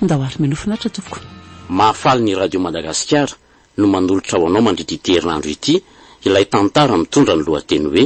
Ndao ary mino finaritra tompoko. Mahafaly ny Radio Madagasikara no manolotra ho anao mandritra ity herinandro ity ilay tantara mitondra ny lohateny hoe.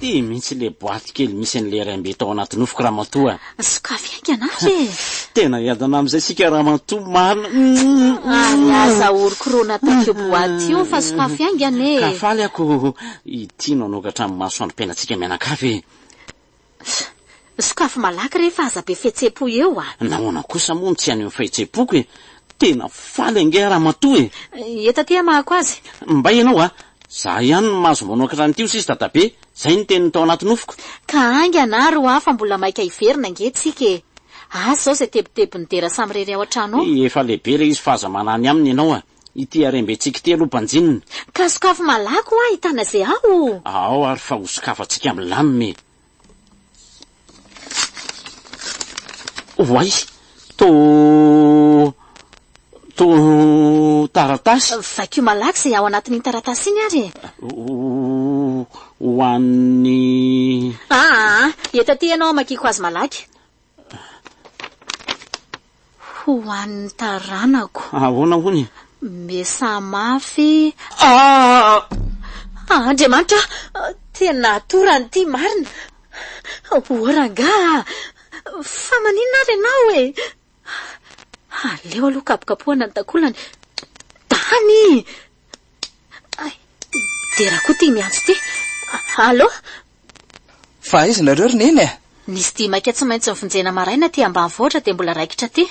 Ty mintsy le boaty kely misy an'i le raim-be tao anaty nofoko ramatoa a! Sokafy haingana ary e! Tena hiadana amin'izay isika ramatoa marina umm! Ary aza horokorona tak'io boaty io fa sokafy haingana e! Ka faly aho ko ity no hanokatra ny masoandrom-piainantsika mianakavy e! Sokafy malaky re fa aza be fihetsem-po eo a! Nahoana kosa moa no tsy any amin'ny fahetsem-poko e! Tena faly ange ramatoa e! Eta aty hamahako azy. Mbay ianao a! Za ihany no mahazo manao ankatran'ny tio sisa dadabe! Zay ny teniny tao anaty nofoko. Ka haingana ary hoa fa mbola maika hiverina ange tsika e! Azy zao zay tebitebin'ny dera samirery ao an-trano ao. Efa lehibe ilay izy fa aza manany aminy ianao a! Ity harembentsika ity aloha banjinina. Ka sokafy malaky hoa ahitana ze ao o! Ao ary fa hosokafantsika milamina e! Voay, to, to, taratasy. Vakio malaky izay ao anatin'iny taratasy iny ary e. Ho an'ny. Ah, ah, ah, eto aty ianao hamakiako azy malaky. Ho an'ny taranako. Ahoana hono? Mesaha mafy. Ah! Andriamanitra ah! Tena atorany ity marina. O rangahy ah! Fa maninona ary ianao e? Aleo aloha kapokapohana ny takolany. Tany! Dera koa ty miantso ty. Allô? Fa aiza nareo ry neny a? Nisy dia maika tsy maintsy nivonjena maraina aty ambanivohitra dia mbola raikitra aty.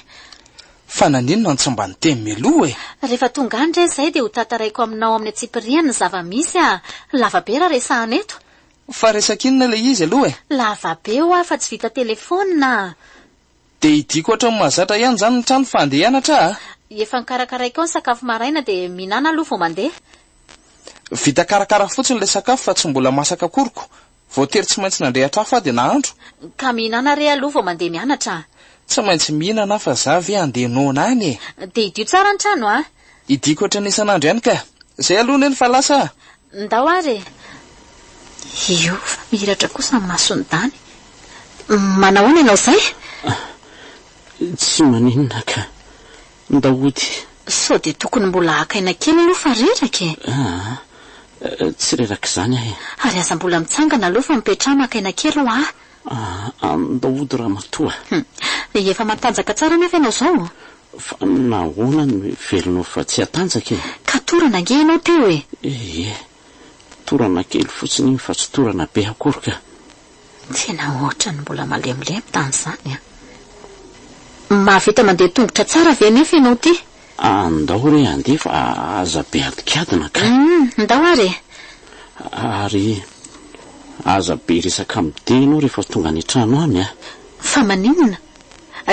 Fa naninona no tsy mba niteny mialoha e? Rehefa tonga any re izay dia ho tantaraiko aminao amin'ny antsipiriany ny zava-misy a! Lava be raha resahana eto. Fa resak'inona ilay izy aloha e? Lava be hoa fa tsy vita telefaonina a! Dia hidiako ohatran'ny mahazatra ihany izany ny trano fa handeha hianatra aho. Efa nokarakaraiko ao ny sakafo maraina dia mihinana aloha vao mandeha. Vita karakara fotsiny ilay sakafo fa tsy mbola masaka akoriko. Voatery tsy maintsy nandrehatra afo aho dia nahandro. Ka mihinana re aloha vao mandeha mianatra. Tsy maintsy mihinana aho fa za ve handeha noana any e! Dia hidio tsara ny trano an! Hidiako ohatry ny isan'andro ihany ka. Izay aloha neny fa lasa aho. Ndao ary e! Hiova mihiratra kosa ny mason'i Dany. Manahoana ianao izay? Tsy maninona ka. Ndao hody. Sao dia tokony mbola haka aina kely aloha fa reraka e! Aa! Tsy rerak'izany aho e! Ary aza mbola mitsangana aloha fa mipetraha maka aina kely ho'a! Aa ny daodo ramatoa. Hum. Efa matanjaka tsara anefa ianao izao. Fa nahoana no heveronao fa tsy hatanjaka e? Ka torana ange ianao teo e! Ee, torana kely fotsiny iny fa tsy torana be akory ka. Tena ohatran'ny mbola malemilemy tany izany an! Mahavita mandeha tongotra tsara ve anefa ianao ity? Ah, ndao re handeha fa aza be adikadina kay. Humm, ndao ary e. Ary aza be resaka amin'ny dia ianao rehefa tonga any an-trano any an. Fa maninona?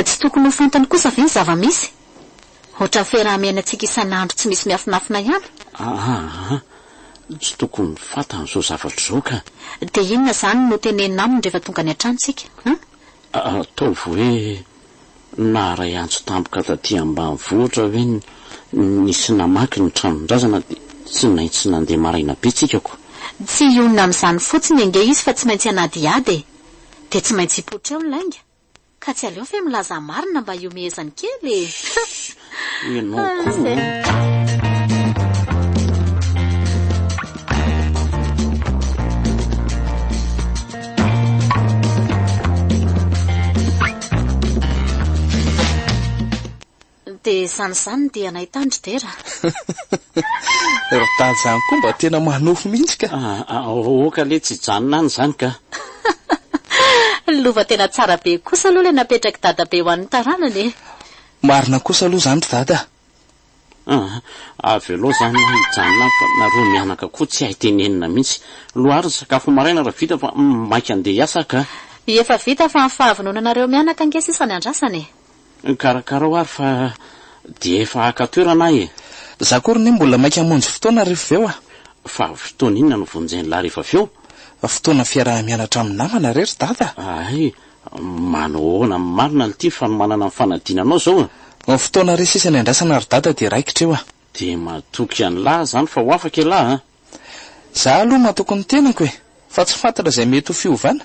Tsy tokony ho fantany kosa ve ny zava-misy? Ohatran'ny fiaraha-miainantsika isan'andro tsy misy miafinafina ihany. Aa, tsy tokony fantany izao zavatra izao ka. Dia inona izany no tenenina aminy rehefa tonga any an-tranontsika an? Ataovy hoe naharay antso tampoka taty ambanivohitra ve ny nisy namaky ny tranon-drazana dia tsy maintsy nandeha maraina be tsika ko. Tsy hionona amin'izany fotsiny ange izy fa tsy maintsy hanadihady e! Dia tsy maintsy hipoitra eo ny lainga! Ka tsy aleo ve milaza marina mba hiomehezany kely e! Ianao Dia izany izany dia anay tandry dera. Ry tandry izany koa mba tena manofy mihitsy ka. Ah, ah, Oka le tsy hijanona any izany ka. Lova tena tsara be kosa aloha ilay napetrak'i dadabe ho an'ny taranany e. Marina kosa aloha izany ry dada a! Aa! Avelao zany hoa hijanona fa nareo mianaka koa tsy hay tenenina mihitsy. Loha ary ny sakafo maraina raha vita fa maika handeha hiasa ka. Efa vita fa ny fahavononanareo mianaka ange sisa ny andrasana e! Karakarao ary fa dia efa haka toerana aho e! Za koa ry neny mbola maika hamonjy fotoana rehefa avy eo a! Fa fotoana inona no vonjen'lah rehefa avy eo? Fotoana fiaraha-mianatra amin'ny namana re ry dada a! Hay! Manao ahoana amin'ny marina lty fanomanana ny fanadinanao zao a! Ny fotoana re sisa niandrasana ry dada dia raikitra eo a! Dia matoky an'lah zany fa ho afaka ialahy a! Za aloha matoky ny tenako e! Fa tsy fantatra izay mety ho fiovana?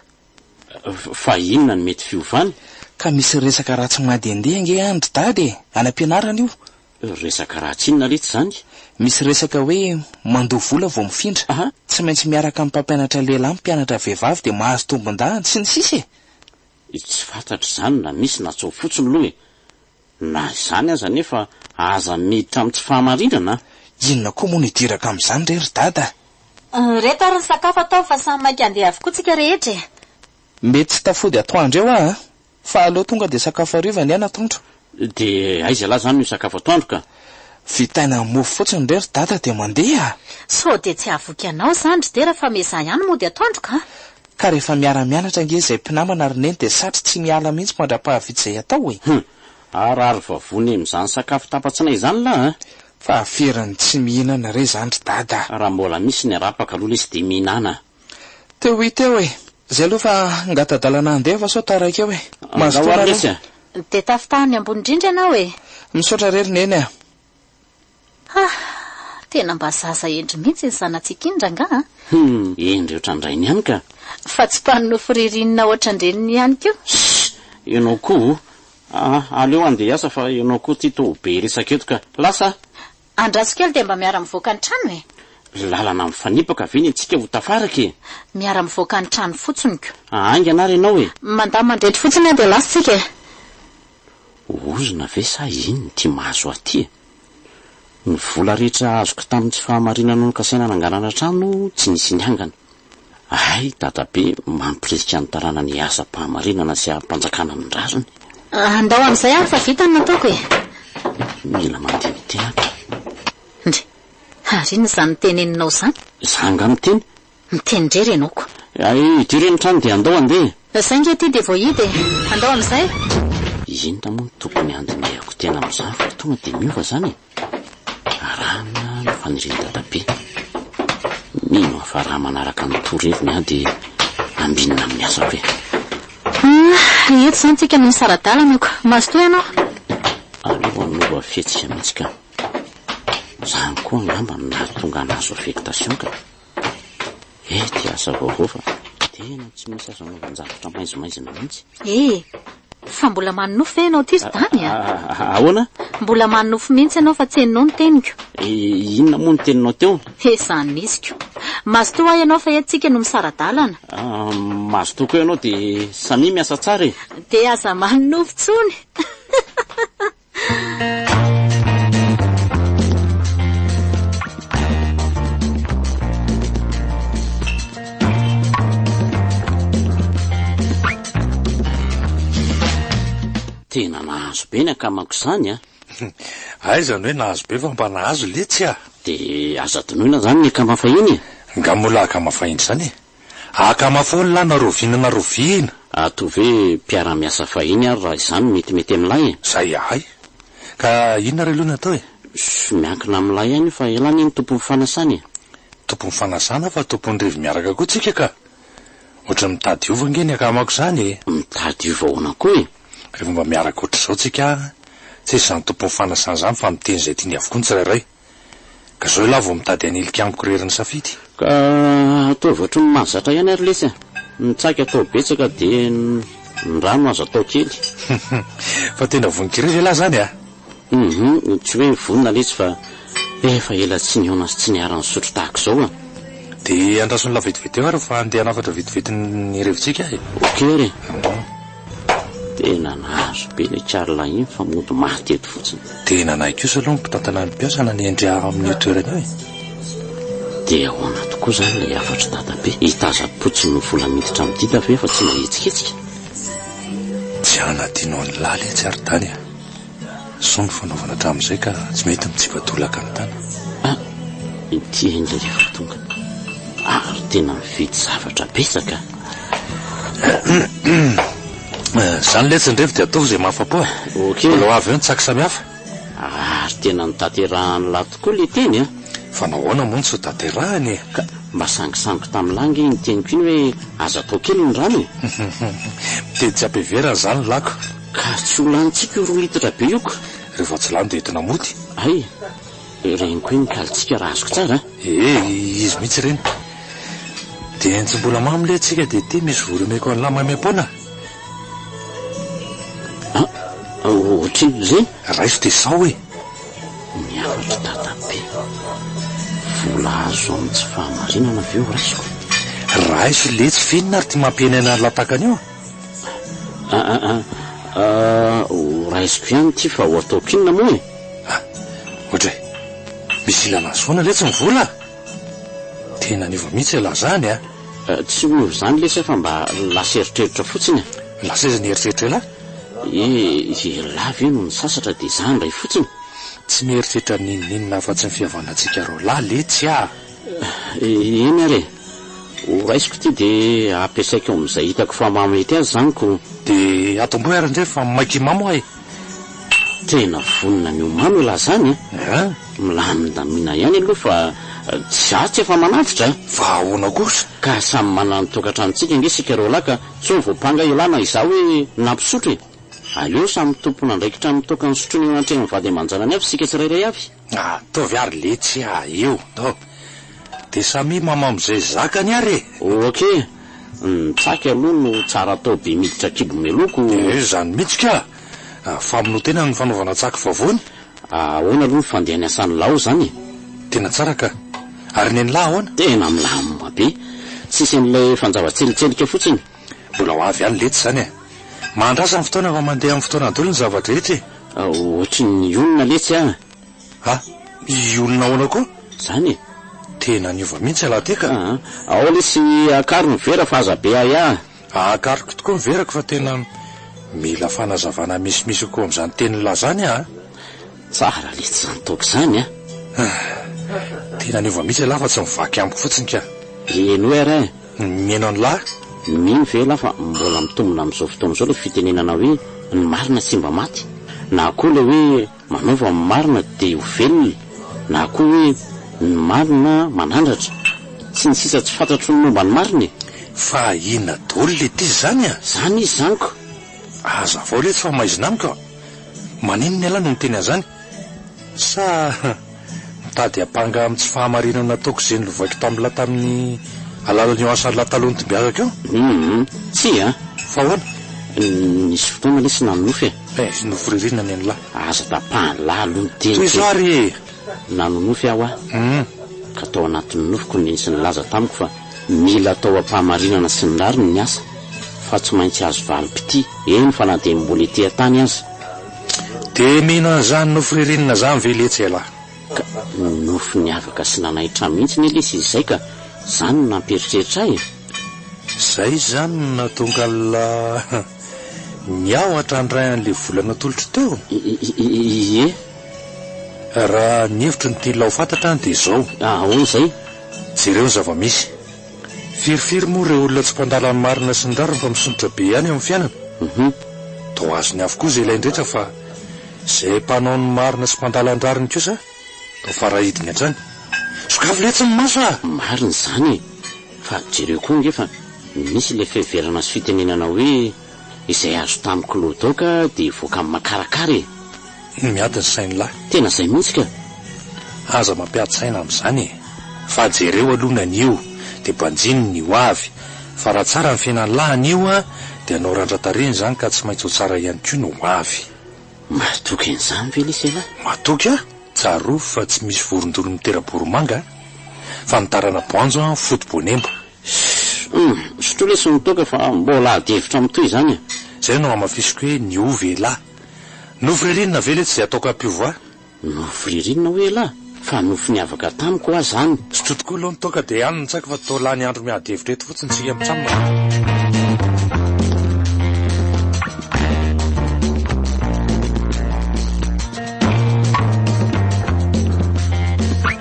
Fa inona no mety fiovana? Ka misy resaka ratsy mandehandeha ange any ry dada e! Any am-pianarana io! Resaka raha tsinona letsy izany. Misy resaka hoe mandoa vola vao mifindra, Aha. tsy maintsy miaraka amin'ny mpampianatra lehilahy mpianatra vehivavy dia mahazo tombondahany, sy ny sisa e! Tsy fantatro izany na misy na tso fotsiny aloha e! Na izany aza anefa aza miditra amin'ny tsy fahamarinana a! Inona koa moa no hidiraka amin'izany re ry dada a! Ireto ary ny sakafo ataovy fa samy maika handeha avokoa tsika rehetra e! Mety tsy tafody atoandro eo aho a! Fa aleo tonga dia sakafo hariva anie an'atoandro. Dia aiza lah zany io sakafo atoandro ka? Vitaina mofo fotsiny re ry dada dia mandeha a! Sao dia tsy hahavoky anao zany ry dera fa miezaha ihany mody atoandro ka! Ka rehefa miara-mianatra ange izay mpinamana ry neny dia satry tsy miala mihitsy mandra-pahavita izay atao e! Hum! Harary vavony amin'izany sakafo tapatsinay izany lah a! Fa averiny tsy mihinana re izany ry dada a! Raha mbola misy ny arapaka aloha lesy dia mihinana a! Teo ho teo e! Zay aloha fa ngata-dalana handeha fa sao taraiky eo e! Mazotoa nareo! Dia tafitaha any ambony indrindra ianao e! Misaotra re ry Neny a! Ha! Tena mba zaza hendry mihitsy ny zanatsika iny rangah a! Hum! Hendry ohatran-drainy ihany ka! Fa tsy mpano nofo ririnina ohatran-dreniny ihany koa! Shh! Ianao koa o! Aleo handeha hiasa fa ianao koa tia to be resaka eto ka! Lasa a! Andraso kely dia mba miara mivoaka ny trano e! Lalana mifanipaka ve ny antsika ho tafaraka e! Miara mivoaka ny trano fotsiny ko! Haingana ary ianao e! Mandà mandrety fotsiny an dia lasa tsika e! Ozona ve sa inn ty mahazo ahy ty e! Ny vola rehetra azoko tamin'ny tsy fahamarinana nokasaina nangalana trano tsy nisy niangana. Hay dadabe mampirisika ny taranany hiasa am-pahamarinana sy ampanjakana ny rariny. Andao amin'izay ary fa vita ny nataoko e! Mila mandeha mitehaka. Ndry! Ary inona izany teneninao izany? Za angaha miteny? Miteny indrery ianao ko! Hay idio re ny trano dia andao handeha! Saingy aty dia voahidy e! Andao amin'izay! Inona moa no tokony handinihako tena amin'izany fa tonga dia miova izany e! Arahana ny fanirian'i Dadabe. Mino aho fa raha manaraka ny toroheviny aho dia hambinina amin'ny asako e. Ah, eto izany tsika no nisara-dalana ko. Mazotoa ianao. Aleo hanova fihetsika mihitsy ka. Izany koa angamba no nahatonga anazy ho affectation ka. Eh ty asa vaovao fa tena tsy misy azo anaovan-javatra maizimaizina mihitsy. Eh! Fa mbola manonofy ve ianao ty Sdany a? Ah, ah, ah, ahoana? Mbola manonofy mihitsy ianao fa tsy henonao ny teniko. Eh, inona moa ny teninao teo? Eh, zany nisiko. Mazotoa ahy ianao fa eto tsika no misara-dalana. Ah, mazotoa koa ianao dia samia miasa tsara e. Dia aza manonofy intsony. tena nahazo be ny akamako izany a ah. aizany hoe nahazo be fa mba nahazo letsy a dia aza donoina izany ny akama fahiny e nga moa lahy akama fahiny izany e Akama foana lahy na rovina na rovina. Ato ve mpiara miasa fahiny ary raha izany mety mety amin'ilay e? Zay ahay. Ka inona re aloha no atao e? Ssy miankina amin'ilay ihany io fa ela anie ny tompon'ny fanasana e. Tompon'ny fanasana fa tompon'ny revy miaraka koa tsika ka. Ohatran'ny mitady hiova ange ny akamako izany e. Mitady hiova ahoana koa e? Rehefa mba miaraka ohatr'izao tsika an! Tsy izy izany tompon'ny fanasana izany fa miteny izay tiany avokoa ny tsirairay. Ka zao ialahy vao mitady hanilika amiko rery ny safidy. Ka ataovy ohatry ny mahazatra ihany ary lesy a! Ny tsaky atao betsaka dia ny rano aza atao kely. Fa tena vonon-kira ve ialahy zany a? Hum, tsy hoe vonona lesy fa efa ela tsy nihaona sy tsy niara-nisotro tahaka izao a! Dia andraso ny lahy vetivety eo ary fa andeha hanafatra vetivety ny revintsika e! Ok ary e! Tena nahazo be le Charles iny fa mody maty eto fotsiny. Dia nanahy kosa aloha ny mpitantana ny mpiasa nanendry ahy ao amin'io toerana io e! Dia ahoana tokoa izany ilay hafatr'i Dadabe? Hitazam-potsiny ny vola miditra amin'ny dida ve fa tsy mahetsiketsika? Tsy hanadino an'i Laly atsy ary Dany a! Zao no fanaovana hatramin'izay ka tsy mety mitsipa-tolaka ny tany. Ah! Ity enga rehefa tonga ary tena mividy zavatra betsaka ah! Izany letsy andrefy dia ataovy izay mahafa-po ah! Ok. Mbola ho avy eo ny tsaky samihafa. Ary tena notaterahan'lah tokoa le teny an! Fa nahoana moa no tsy hotaterahany e? Ka mba sangisango tamin'lah ange iny teniko iny hoe aza atao kely ny rano e! Miteny tsy ampiheverana izany lako. Ka tsy ho lanintsika io roa litatra be io ka! Ireo vao tsy lany dia entina mody. Hay! Reniko eny ny kalintsika raha azoko tsara an! Ee, izy mihitsy ireny. Dia entsim-bola mamy le tsika dia ity misy vola omeko an'lah maimaim-poana. A! Ohatrinona izay? Raiso dia sao e! Ny hafatry dadabe. Vola azo amin'ny tsy fahamarinana ve ho raisiko? Raiso letsy finina ary ity mampihenena an'lah takana io. Ah ah ah ah, horaisiko ihany ity fa ho ataoko inona moa e? Ah, ohatra e, misy ilana an'i Zoana letsy ny vola ah! Tena niova mihitsy ialahy izany ah! Eh, tsy miova izany lesy fa mba lasa eritreritra fotsiny e! Lasa aiza ny eritreritra ialahy? Eh, ialahy ve no nisasatra dia izaho indray fotsiny? Tsy mieritreritra n'inon'inona afa-tsy ny fihavanantsika roalahy letsy ah! Eny ary e! Ho raisiko ity dia ampiasaiko amin'izay hitako fa mahamety azy izany ko! Dia atomboy ary indray fa maika himamy hoa e! Tena vonona ny ho mamy elah izany e! Eeh! Milamindamina ihany aloha fa tsy atsy efa manantitra e! Fa ahoana kosa? Ka samy manana ny tokantranontsika ange isika roalahy ka tsy hoe voampanga elah na izaho hoe nampisotro e! Aleo samy tompon'andraikitra amin'ny tokan'ny sotroiny eo anatrehan'ny vady aman-janany avy isika tsirairay avy! Ataovy ary letsy a! io no! de samia mamao amizay zakany ary e! Ok! Ny tsaky aloha no tsara atao be miditra kibo meloko! Eh zany mitsy ka! Famonoa-tena ny fanaovana tsaky vavony! Ahoana aloha ny fandehany asan'i Lao zany e! Tena tsara ka! Ary nen'lah ahoana? Tena milamina be! Tsisy an'ilay fanjava-tselitselika fotsiny! Mbola ho avy ihany letsy zany e! Mahandrasa ny fotoana fa mandeha amin'ny fotoana daholo ny zava-drehetra e! Ohatry ny hionona letsy an! Ha? Hionona ahoana koa? Zany e! Tena niova mihitsy ialahy ty ka! Aa! Ao lesy akaro ny vera fa aza be ahiahy! Akariko tokoa ny verako fa tena mila fanazavana misimisy kokoa amin'izany tenin'lah zany aho a! Tsara letsy izany toaka izany an! Tena niova mihitsy ialahy fa tsy mivaky amiko fotsiny ka! Henoy ary e! Ny mihaino an'i lah. Mino ve ialahy fa mbola mitombona amin'izao fotoana izao ilay fitenenana hoe ny marina tsy mba maty? Na koa ilay hoe manaova ny marina dia ho velona? Na koa hoe ny marina manandratra? Tsy ny sisa tsy fantatro ny momba ny marina e! Fa inona daholo ilay diz izany a? Izany izy izany ko! Hazavao iletsy fa maizina amiko a! Maninona ialahy no miteny an'izany? Sa mitady hampanga amin'ny tsy fahamarinana nataoko izay nolovaiko tamin'lah tamin'ny alalan'io asan'lah taloha nitmbiazako io? Humm, tsia an! Fa ahoana? Nisy fotoana anie tsy nanonofy e! Eh, nofy ririnina anie ny lah! Aza tapahan'lah aloha ny teniko e! Tohizo ary e! Nanonofy aho an! Humm! Ka tao anatin'ny nofiko ny tsy nilaza tamiko fa mila atao am-pahamarinana sy ny rariny ny asa, fa tsy maintsy azo valim-pitia, eny fa na dia mbola ety an-tany aza! Dia mino an'izany nofy ririnina izany ve letsy ialahy? Ka nofy niavaka sy nanaitra mihitsy anie lesy izy izay ka! Izany no nampieritreritra ahy e! Izay izany no nahatonga an'ilay niahotra handray an'ilay vola natolotro teo? Ie! Raha ny hevitro no tian'ilay ho fantatra any dia izao. Ahoana izay? Jereo ny zava-misy. Firy firy moa ireo olona tsy mpandala ny marina sy ny rariny fa misondrotra be ihany amin'ny fiainana? Hum toa azony avokoa izay ilainy rehetra fa izay mpanao ny marina sy mpandala ny rariny kosa toa farahidiny hatrany. Sokafy letsy ny maso ah! Marina izany e! Fa jereo koa ange fa misy ilay fiheverana sy fitenenana hoe Izay azo tamiko lo daoka dia voaka amin'ny makarakara e! Ny miady ny sain'ny lahy. Tena izay mihitsy ka! Aza mampiady saina amin'izany e! Fa jereo aloha ny anio dia banjino ny ho avy, fa raha tsara ny fiainan'ny lahy anio dia hanao randra-tarehiny izany ka tsy maintsy ho tsara ihany koa ny ho avy. Mahatoky an'izany ve lesy ialahy? Mahatoky aho! Tsarovy fa tsy misy vorondolo mitera-boromanga a! Fa ny tarana-boanjo an, foto-boanemba. Humm, sotroy lesy ny toaka fa mbola ady hevitra mitohy izany e! Izay no hamafisiko hoe niova elah. Nofy ririnina ve letsy izay ataoko ampio va? Nofy ririnina hoy elah? Fa nofy niavaka tamiko hoa izany. Sotroy tokoa aloha ny toaka dia any no tsaiko fa toa lany andro miady hevitra eto fotsiny isika mitsam.